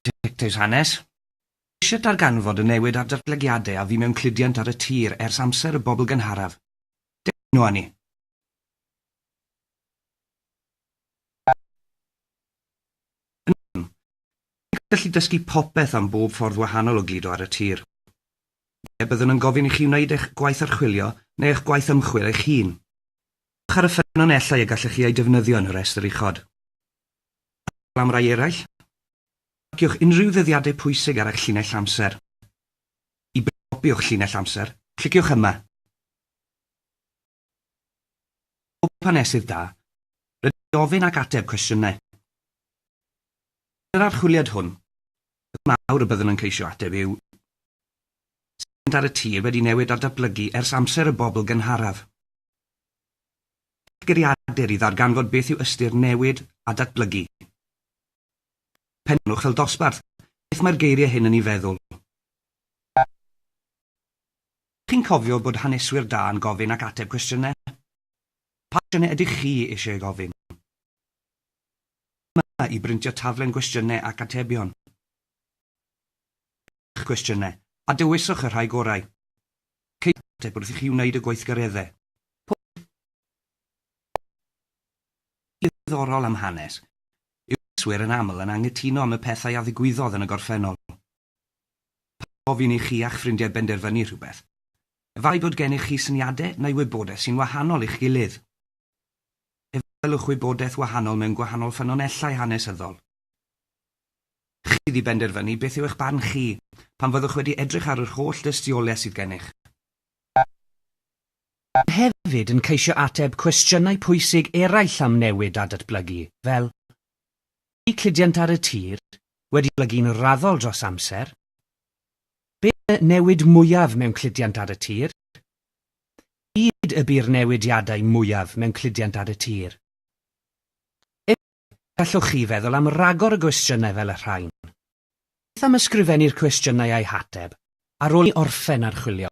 Dicteis hanes. Ceisiant darganfod y newid a'r datblygiadau a fu mewn cludiant ar y tir ers amser y bobl gynharaf. Dewch yno â ni. Yn gallu dysgu popeth am bob ffordd wahanol o gludo ar y tir. Ie, byddwn yn gofyn i chi wneud eich gwaith archwilio neu eich gwaith ymchwil eich hun. Dewch ar y ffynonellau y gallech chi eu defnyddio yn y rhestr uchod. fel am rai eraill, marciwch unrhyw ddyddiadau pwysig ar eich llinell amser. I brynu copi o'ch llinell amser, cliciwch yma. Pob hanesydd da, rydyn ni'n gofyn ac ateb cwestiynau. Yn yr archwiliad hwn, y thema mawr y byddwn yn ceisio ateb yw Sut mae mynd ar y tir wedi newid a datblygu ers amser y bobl gynharaf? Geiriadur i ddarganfod beth yw ystyr newid a datblygu. Pennwch fel dosbarth beth mae'r geiriau hyn yn ei feddwl. Chi'n cofio bod haneswyr da yn gofyn ac ateb cwestiynau? Pa gwestiynau ydych chi eisiau ei gofyn? Yma i brintio taflen gwestiynau ac atebion. Prynnwch eich cwestiynau a dewiswch y rhai gorau. Ceisiwch ateb wrth i chi wneud y gweithgareddau. Pob un sy'n ddiddorol am hanes yw preswyr yn aml yn anghytuno am y pethau a ddigwyddodd yn y gorffennol. Pan fo gofyn i chi a'ch ffrindiau benderfynu rhywbeth, efallai bod gennych chi syniadau neu wybodaeth sy'n wahanol i'ch gilydd. Efallai y gwelwch wybodaeth wahanol mewn gwahanol ffynonellau hanesyddol. Chi ydi benderfynu beth yw eich barn chi, pan fyddwch wedi edrych ar yr holl dystiolaeth sydd gennych. Byddwn hefyd yn ceisio ateb cwestiynau pwysig eraill am newid a datblygu, fel, Ydi cludiant ar y tir wedi datblygu'n raddol dros amser? Be yw'r newid mwyaf mewn cludiant ar y tir? Pryd y bu'r newidiadau mwyaf mewn cludiant ar y tir? Gallwch chi feddwl am ragor o gwestiynau fel y rhain. Beth am ysgrifennu'r cwestiynau a'u hateb ar ôl i orffen archwilio?